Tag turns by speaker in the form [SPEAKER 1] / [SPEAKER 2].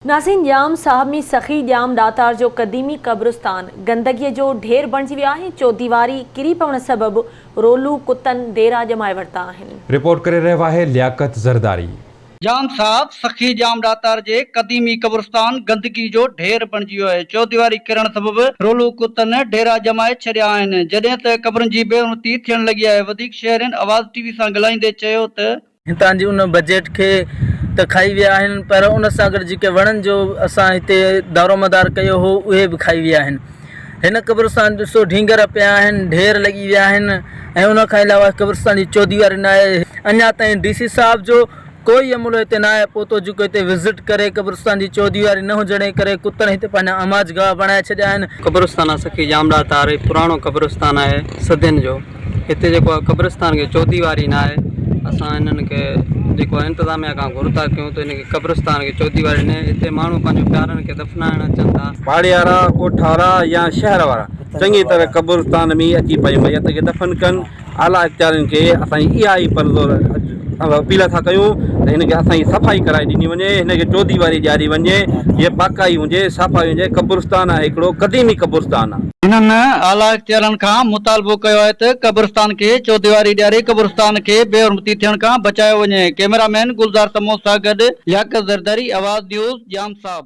[SPEAKER 1] نازين ڄام، صاحب مير سخي ڄام ڏاتار جو قديمي قبرستان گندگيء جو ڍير بڻجي ويو آهي، چوديواري ڪري پوڻ سبب رولو ڪتن ديرا ڄمائي ورتا آهن. رپورٽ ڪري رهيو آهي
[SPEAKER 2] لياقت زرداري. ڄام صاحب
[SPEAKER 3] سخي ڄام ڏاتار جي قديمي قبرستان گندگي جو ڍير بڻجي ويو آهي، چوديواري ڪرڻ سبب رولو ڪتن ڍيرا ڄمائي ڇڏيا آهن، جڏهن ته قبرن جي بي حرمتي ٿيڻ لڳي آهي، وڌيڪ شهرين آواز ٽي وي سان ڳالهائيندي چيو ته. هتان جي ان
[SPEAKER 4] بجيٽ کي ته کائي ويا آهن پر ان سان گڏ جيڪي وڻن جو اسان هتي دارومدار ڪيو هو اهي به کائي ويا آهن هن قبرستان ڏسو ڍينگهر پيا آهن ڍير لڳي ويا آهن ۽ ان کان علاوه قبرستان جي چوديواري نه آهي اڃا تائين ڊي سي صاحب جو ڪوئي عملو هتي نه آهي پهتو جيڪو هتي وزٽ ڪري قبرستان جي چوديواري نه هجڻ جي ڪري ڪتن هتي پنهنجا اماج گاهه بڻائي ڇڏيا آهن. قبرستان آ سخي ڄامڙا
[SPEAKER 5] تاري پراڻو قبرستان آهي صدين جو. هتي جيڪو آهي قبرستان کي چوديواري نه آهي اسان انهن کي جيڪو آهي انتظاميا کان گهر ٿا ڪيون ته ان کي قبرستان کي چوديواري نه هتي ماڻهو پنهنجو پيارن کي دفنائڻ اچن ٿا. پاڙيارا، ڳوٺ
[SPEAKER 6] وارا يا شهر وارا چڱي طرح قبرستان ۾ اچي پنهنجي ميت کي دفن ڪن اعليٰ اختيارين کي اسان جي اها ئي پرزور اسان اپيل ٿا ڪيون ته هن کي اسان جي صفائي ڪرائي ڏني وڃي هن کي چوديواري ڏياري وڃي جيئن پاڪائي هجي صافائي هجي قبرستان آهي هڪڙو قديمي قبرستان آهي. هنن اعليٰ
[SPEAKER 3] اختيارن کان مطالبو ڪيو آهي ته قبرستان کي چوديواري ڏياري قبرستان کي بي حرمتي ٿيڻ کان بچايو وڃي ڪيميرا مين گلزار سمون سان گڏ لياقت زرداري آواز نيوز ڄام صاحب.